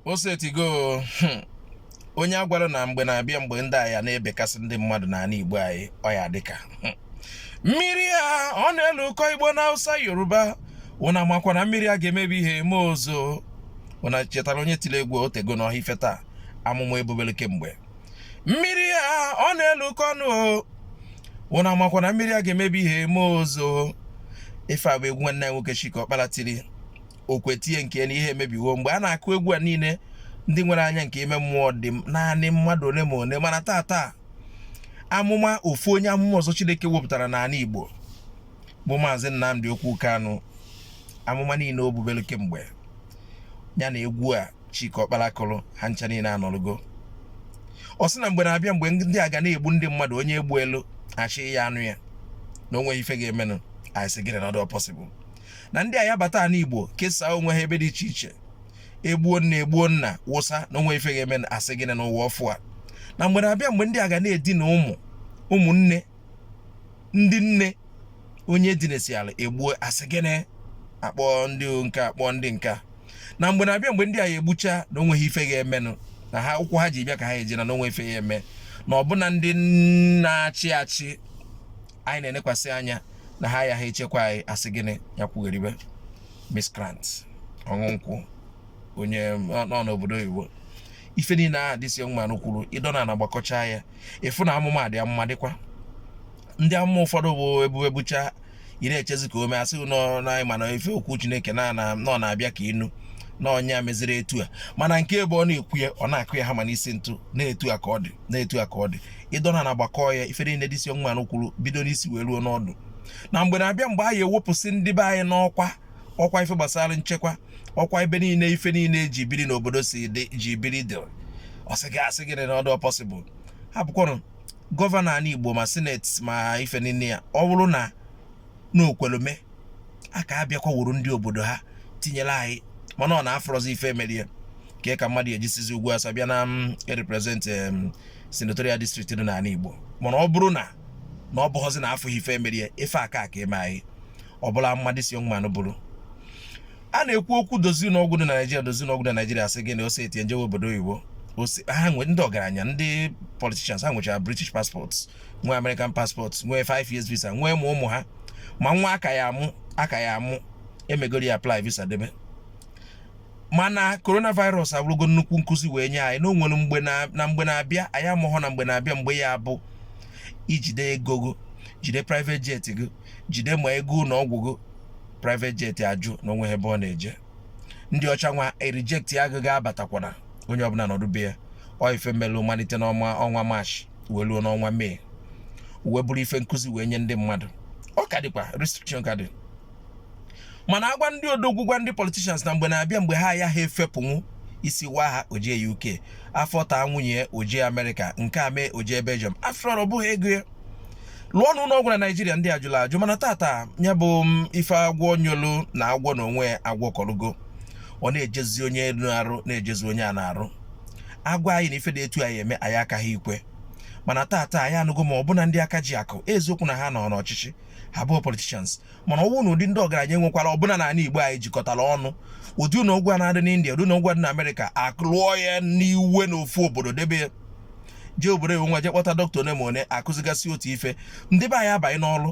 o setigo hmm, onye a gwara na mgbe na-abịa mgbe ndị a ya na-ebekasị ndị mmadụ n'ala Igbo anyị ọ ya-adị ka hmm. mmiri a ọ na-elukọ Igbo na Hausa Yoruba ụna makwa na mmiri a ga-emebi ihe ma o zoo ụna chetara onye tiri egwu o tego n'ọhịa ife taa amụma e bubelu kemgbe mmiri a ọ na-elukọ ọnụ o ụna makwa na mmiri a ga-emebi ihe ma o zoo ife a bụ egwu nwanne nwoke Chika Ọkpala tiri okwetie nke na ihe emebiwo mgbe a na-akụ egwu a niile ndị nwere anya nke ime mmụọ dị naanị mmadụ ole ma ole mana taa taa amụma ofu onye amụma ọzọ Chineke wepụtara n'ala Igbo bụ maazị Nnamdi Okwu Kanu amụma niile o bubelu kemgbe ya na egwu a Chika Ọkpala kụrụ ha ncha niile anọrụgo ọ sị na mgbe na-abịa mgbe ndị a ga na-egbu ndị mmadụ onye e gbuelu achị ya anụ ya na onweghị ife ga-emenụ anyị sị gịnị na ọ dị na ndị a ya bata ala Igbo kesaa onwe ha ebe dị iche iche egbuo nna egbuo nna wụsa na onwe ife ga-eme asị gịnị n'ụwa ọfụ a na mgbe na-abịa mgbe ndị a ga na-edina ụmụ ụmụnne ndị nne onye e dinasịala e gbuo asị gịnị akpọ ndị nke akpọ ndị nka na mgbe na-abịa mgbe ndị a ya egbucha na onweghị ife ga-emenụ na ha ụkwụ ha ji bịa ka ha eji naa n'onwe ife ya eme na ọbụna ndị na-achị achị anyị na-elekwasị anya na ha ayaghị echekwa anyị asị gịnị ya kwugheribe miscreant ọṅụ nkwụ onye nọ n'obodo oyibo ife niile ahụ this man kwuru ị dọna ana gbakọcha ya ị fụ na amụma dị amụma dịkwa ndị amụma ụfọdụ bube bucha ị na-echezi ka o mee asị nọ na mana ife okwu Chineke na ọ na-abịa ka ị nụ na onye a meziri etu a mana nke ebe ọ na-ekwu ya ọ na-akụ ya hammer n'isi ntu na etu a ka ọ dị na etu a ka ọ dị ị dọna ana gbakọọ ya ife niile this young man kwuru bido n'isi wee ruo n'ọdụ na mgbe na-abịa mgbe a ya-ewepụsị ndị be anyị n'ọkwa ọkwa ife gbasara nchekwa ọkwa ebe niile ife niile eji biri n'obodo si dị ji biri dị ọ sị gị a sị gịnị na ọ dụ possible ha bụkwanụ gọvanọ anị Igbo ma sineti ma ife niile ya ọ bụrụ na o kwelu me a ka abịakwa wuru ndị obodo ha tinyere anyị mana ọ na-afọrọzi ife emerie ka ka mmadụ e ji sizi ugwu Hausa bịa na mm, represent senatorial district dị n'ala Igbo mana ọ bụrụ na na ọ bụghọzi na afụghị ife emerie ife aka ka eme anyị ọbụla mmadụ this young man bụrụ a na-ekwu okwu dozi n'ọgwụ dị na Naịjirịa dozi n'ọgwụ dị na Naịjirịa sị gị na o set e tinye njewe obodo oyibo ha nwe ndị ọgaranya ndị politicians ha nwechara British passports nwee American passport nwee 5 years visa nwee ma ụmụ ha ma nwa a ka ya-amụ a ka ya-amụ emegoro ya apply visa debe mana coronavirus abụrụgo nnukwu nkụzi wee nye anyị na o nwere mgbe na mgbe na-abịa anyị amụgo na mgbe na-abịa mgbe ya abụ i jide ego gị jide private jet gị jide ma ego ụlọ ọgwụ gị private jet ajụ na o nwehe ebe ọ na-eje ndị ọcha nwa erijektia gị abatakwana onye ọbụla nọdụ be ya ọ ife melụ malite n'ọnwa ọnwa maachị wee ruo n'ọnwa mee wee bụrụ ife nkụzi wee nye ndị mmadụ ọ ka dịkwa restriction ka dị mana a gwa ndị odogwu gwa ndị politicians na mgbe na-abịa mgbe ha ayaha efepụnwu isi waa ha o je UK afọ taa nwunye o je Amerịka nke a mee o je Belgium afọ ọ bụghị ego ya lụọ na ụlọ ọgwụ na naijiria ndị ajụla ajụ mana taata ya bụ mm, ife agwọ nyolu na agwọ na onwe agwọ kọrọgo ọ na-ejezi onye elu arụ na-ejezi onye a na-arụ a gwa anyị na ife dị etu a ya-eme anyị akaghị ikwe mana taata anyị anụgo ma ọbụna ndị aka ji akụ eziokwu na ha nọ n'ọchịchị ha bụ politishans mana ọ wụ na ụdị ndị ọgaranya e nwekwara ọbụna n'ala Igbo anyị jikọtara ọnụ ụdị ụlọ ọgwụ na-adị n'India ụdị ụlọ ọgwụ dị na Amerịka a ka lụọ ya n'iwe n'ofu obodo debe ya jee obodo ewe nwa jee kpọta dọkịta one ma one akụzigasị otu ife ndị be anyị abanye n'ọrụ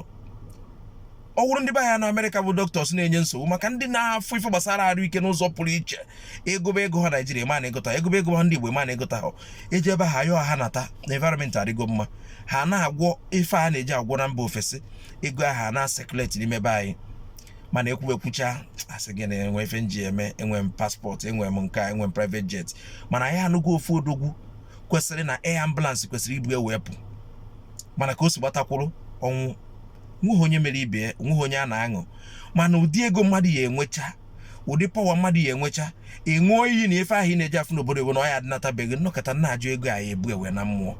ọ wụrụ ndị be anyị nọ amerịka bụ dọkịtọs na-enye nsogbu maka ndị na-afụ ife gbasara arụ ike n'ụzọ pụrụ iche e gobe ego ha naijiria ma na-egota e gobe ego ha ndị igbo ma na-egota ha e jee be ha yọọ ha nata na environment adịgo mma ha na-agwọ ife a na-eje agwọ na mba ofesi ego aha na-asekuleti n'ime be anyị mana e kwube kwucha a sị gị na e nwe ife m ji eme enwe m paspọtụ enwe m nke enwe m private jet mana anyị anụgo ofu odogwu kwesịrị na air ambulance kwesịrị ibu ya wee pụọ mana ka o si gbata kwụrụ ọ nwụọ nweghị onye mere ibe ya nweghị onye a na-aṅụ mana ụdị ego mmadụ ya enwecha ụdị pọwa mmadụ ya enwecha ị ṅụọ iyi na ife ahụ ị na-eje afụ n'obodo ewe na ọ ya adịnata be gị nọkata na-ajụ ego a na-ebu ya wee naa mmụọ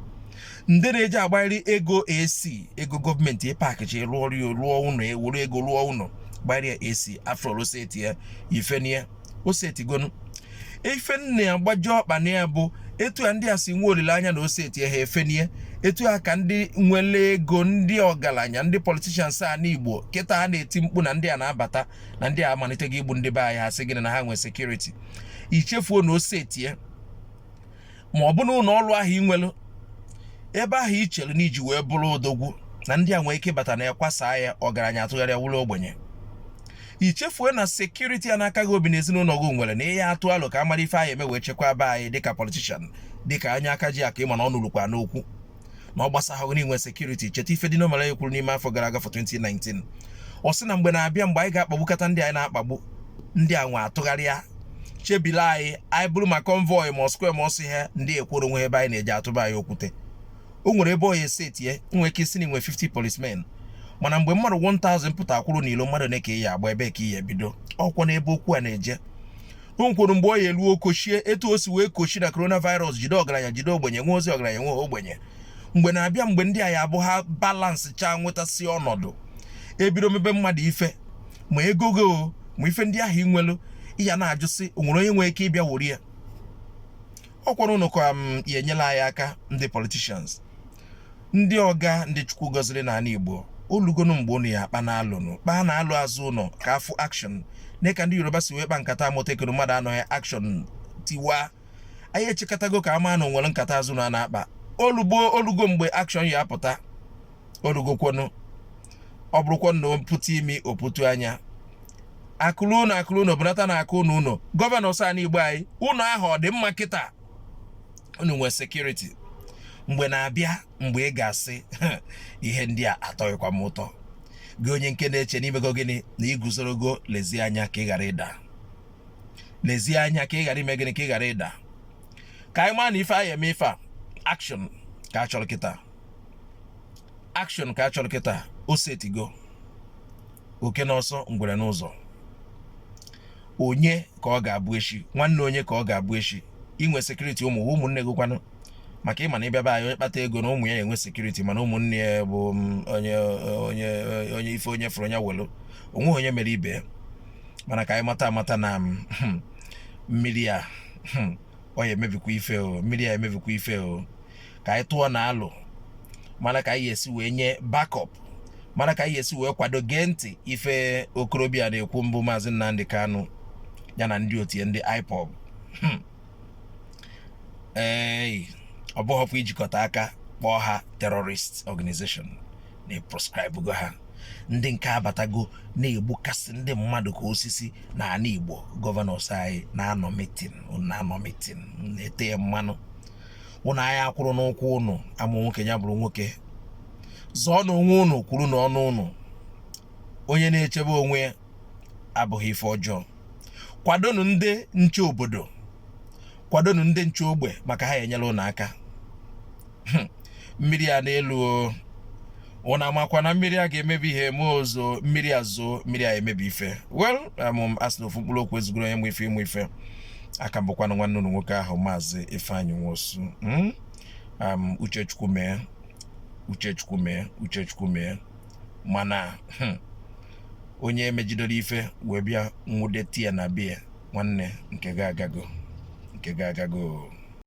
ndị na-eji agbarị ego AC ego gọọmenti ịpakịchi rụọ ọrụ ya rụọ ụlọ ewuru ego rụọ ụlọ gbarịa AC a fụrụ o setie i fenie o setigonu i fenie agbajie ọkpa na ya bụ etu a ndị a si nwee olileanya na o setie ha efenie etu a ka ndị nwere ego ndị ọgaranya ndị politishans a n'igbo kịta a na-eti mkpu na ndị a na-abata na ndị a amalitego igbu ndị be anyị ha sị gịnị na ha nwee sekuriti i chefuo na o setie ma ọ bụ na ụlọ ọrụ ahụ ị nwere ebe ahụ i chere na i ji wee bụrụ odogwu na ndị a nwee ike bata na ya kwasaa ya ọgaranya atụgharịa wụrụ ogbenye i chefue na sekuriti a na-aka gị obi na ezinụlọ gị nwere na ị ya-atụ alo ka a mara ife a ya-eme wee chekwaba anyị dịka politishan dịka onye aka ji akụ ị ma na ọnụ rukwara n'okwu na ọ gbasahụ gị na i nwe sekuriti cheta ife Dino Melaye kwuru n'ime afọ gara aga afọ 2019 ọ sị na mgbe na-abịa mgbe anyị ga-akpagbukata ndị anyị na-akpagbu ndị anwa atụgharịa chebila anyị anyị buru ma convoy ma square ma ọsọ ihe ndị ekworo nwe ebe anyị na-eje a tụba anyị okwute o nwere ebe ọ ya-esetie nwee ike ị sị na i nwe 50 policemen mana mgbe mmadụ 1000 pụta kwụrụ n'ilo mmadụ one ka ị ya-agba ebee ka ị ya-ebido ọkwanụ ebe okwu a na-eje o nwekwara mgbe ọ ya-elu o kochie etu o si wee kochie na coronavirus jide ọgaranya jide ogbenye enwehozi ọgaranya enweho ogbenye mgbe na-abịa mgbe ndị a ya-abụ ha balansị chaa nwetasị ọnọdụ ebido mebe mmadụ ife ma ego gị o ma ife ndị ahụ i nwelu ị ya na-ajụsị o nwere onye nwere ike ịbịa wori ya ọ kwara ụnụ ka m ya-enyela anyị aka ndị politicians ndị ọga ndị chukwu gọziri n'ana igbo o lugonụ mgbe ụnụ ya-akpanụ alo nụ kpaanụ alo azụ ụnụ ka a fụ akshọn nee ka ndị Yoruba si wee kpaa nkata Amotekun mmadụ anụghị akshọn tiwaa anyị echekatago ka a ma na o nwere nkata azụ ụnụ na-akpa o lugo o lugo mgbe akshọn ya-apụta o lugokwanụ ọ bụrụkwanụ na o putu imi o putu anya akụrụ ụnụ akụrụ ụnụ bụnata na aka ụnụ ụnụ gọvanọs ani Igbo anyị ụnụ ahụ ọ dị mma kịta ụnụ nwee sekuriti mgbe na-abịa mgbe ị ga-asị ihe ndị a atọghịkwa m ụtọ gị onye nke na-eche na i mego gịnị na i guzorogo lezie anya ka ị ghara ịda lezie anya ka ị ghara ime gịnị ka ị ghara ịda ka anyị maa na ife a ya-eme ife a action ka a chọrọ kịta action ka a chọrọ kịta o setigo oke n'ọsọ ngwere n'ụzọ onye ka ọ ga-abụ echi nwanne onye ka ọ ga-abụ echi i nwe sekuriti ụmụ ụmụnne gị kwanụ maka ị ma na ị bịa be anyị onye kpata ego na ụmụ ya enwee sekuriti mana ụmụnne ya bụ mm, onye onye onye ife onye fụrụ onye welu o nweghị onye mere ibe ya mana ka anyị mata amata na mm, hmm, mmiri a hmm, ọ ya-emebikwa ife o mmiri a ya-emebikwa ife o ka anyị tụọnụ alo mara ka anyị ya-esi wee nye bakọp mara ka anyị ya-esi wee kwado gee ntị ife okorobịa na-ekwu mbụ maazị Nnamdi Kanu ya na ndị otu ya ndị IPOB hmm. ee ọ bụghịkwa ijikọta aka kpọọ ha terrorist organization na e proskraịbụgo ha ndị nke abatago na-egbukasị ndị mmadụ ka osisi na ana Igbo gọvanọs anyị na-anọ mitin na-anọ mitin na-ete mmanụ ụnụ a ya-akwụrụ n'ụkwụ ụnụ a mụ nwoke ya bụrụ nwoke zọọnụ onwe ụnụ kwurunụ ọnụ ụnụ onye na-echebe onwe ya abụghị ife ọjọọ kwadonụ ndị nche obodo kwadonụ ndị nche ogbe maka ha enyere ụnụ aka hmm. mmiri a na-elu ụnụ amakwa na mmiri a ga-emebi ihe ma o zoo mmiri a zoo mmiri a emebi ife well amụm um, a sị na ofu mkpụrụ okwu ezugoro onye ma ife ị ma ife aka mbụkwanụ nwanne ụlọ nwoke ahụ maazị Ifeanyi Nwosu hmm. um, uche Chukwu mee uche Chukwu mee uche Chukwu mee mana hmm, onye emejidere ife wee bịa nwụde tie ya na be ya nwanne nke ga agago nke ga agago